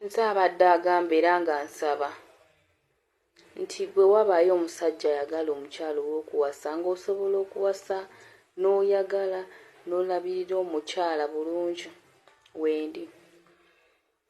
Nze abadde agamba era nga nsaba nti bwe wabaayo omusajja ayagala omukyala ow'okuwasa ng'osobola okuwasa n'oyagala n'olabirira omukyala bulungi wendi.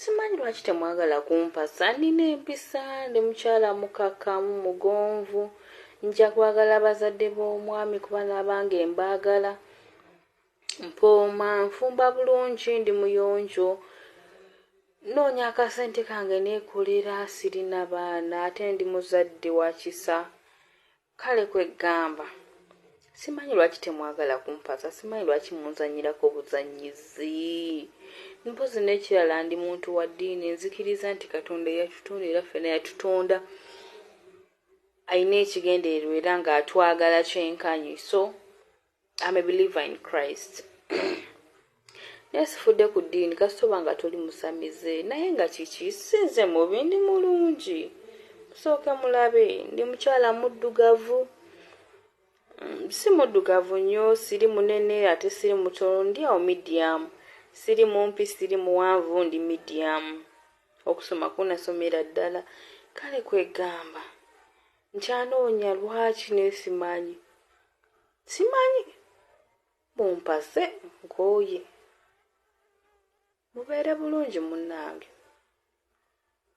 Simanyi lwaki temwagala kumpasa, nnina empisa, ndi mukyala mukkakkamu, mugonvu, nja kwagala bazadde b'omwami kuba n'abange mbaagala. Mpooma, nfumba bulungi, ndi muyonjo, nnoonya akasente kange neekolera, sirina baana ate ndi muzadde wa kisa. Kale kwe ggamba, simanyi lwaki temwagala kumpasa, simanyi lwaki munzannyirako buzannyizi. Mpozzi n'ekirala ndi muntu wa ddiini, nzikiriza nti Katonda eyatutonda era ffena yatutonda alina ekigendererwa era ng'atwagala kyenkanyi so I'm a believer in Christ. naye sifudde ku ddiini kasitoba nga toli musamize naye nga kiki sinze mubi ndi mulungi musooke mulabe ndi mukyala muddugavu mm, si muddugavu nnyo siri munene ate siri mutono ndi awo midiyamu siri mumpi siri muwanvu ndi midiyamu okusoma kunasomera ddala kale kwegamba nkyanoonya lwaki nesimanyi simanyi mumpase nkooye. Mubeere bulungi munnange.